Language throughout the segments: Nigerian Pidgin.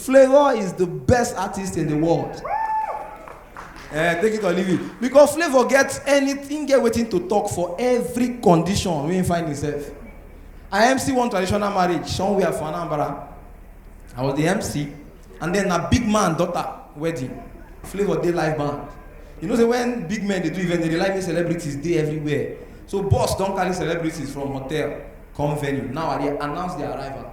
Flavour is the best artist in the world. Eh, take it or leave it. Because Flavour get anything, get waiting to talk for every condition wey he find himself. I MC one traditional marriage somewhere for Anambra. I was the MC, and then na big man daughter wedding. Flavour dey live band. You know say when big men dey do event, they dey like make celebrities dey everywhere. So boss don carry celebrities from hotel come venue. Now I dey announce their arrival.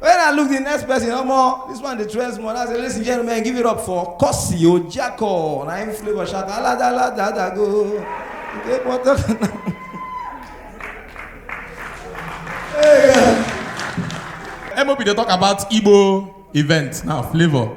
When I look the next person, no more. This one, the trends more. I say, ladies and gentlemen, give it up for Kosi Ojako. Na him flavor shout, ala da la da da go. Take one, take one. MOB dey talk about Igbo event now, flavor.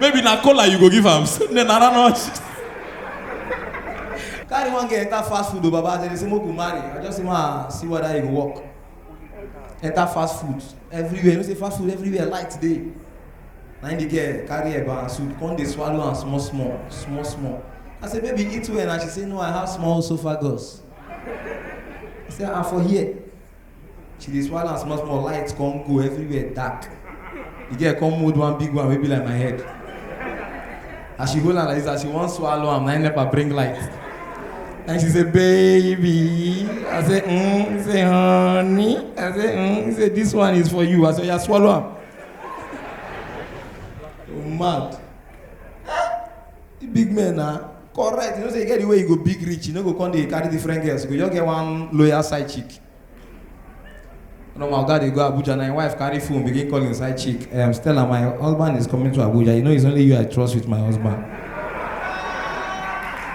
Maybe na cola you go give am. Then I don't know. Carry one girl enter fast food o baba as dem dey say make we marry. I just say ma see whether e go work. Enter fast food everywhere. You know say fast food everywhere light dey. Na im the girl carry eba and soup come dey swallow am small small small small. I say baby eat well na she say no I have small esophagus. I say ah for here. she dey swallow am small small light come go everywhere dark the girl come hold one big one wey be like my head as she hold am like this as she wan swallow am na im nepa bring light and she say baby i say mm he say honey i say mm he say this one is for you i say oya swallow am oh mad. The big men na correct. You know say you get the way you go big reach, you no go come dey carry different girls. You go just get one loyal side chick. Normal guy dey go Abuja na him wife carry phone begin call him side chick. Um, Stella, my husband is coming to Abuja. You know it's only you I trust with my husband.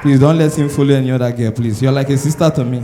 Please don't let him follow any other girl, please. You're like a sister to me.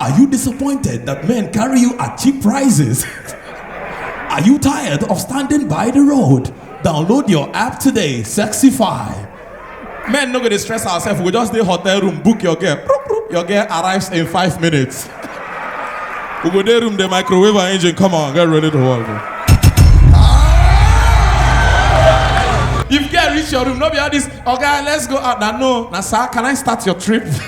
Are you disappointed that men carry you at cheap prices? Are you tired of standing by the road? Download your app today, Sexify. Men no go dey stress ourselves. We just dey hotel room, book your girl. Proop, proop. Your girl arrives in five minutes. we go dey room, the microwave her engine. Come on, get ready to work. bro. If girl reach your room, no be all this. Okay, let's go out. Now no, now sir, can I start your trip?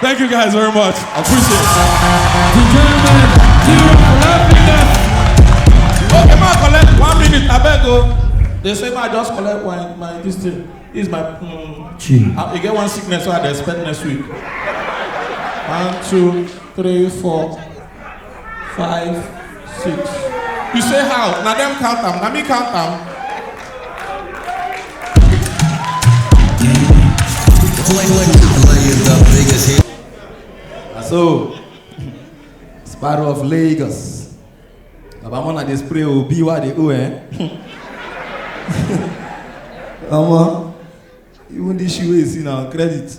Thank you guys very much. I appreciate it. Gentlemen, give it up for happiness. Okay, ma collect one minute, I beg o. They say ma just collect my my this thing. This is my um, Gee. I, I get one sickness so I dey expect next week. One, two, three, four. five six you say how na dem count am na me count am. Na so sparrow of lagos baba mona dey spray o be wa dey o eh. omo even this shoe wey you see na credit.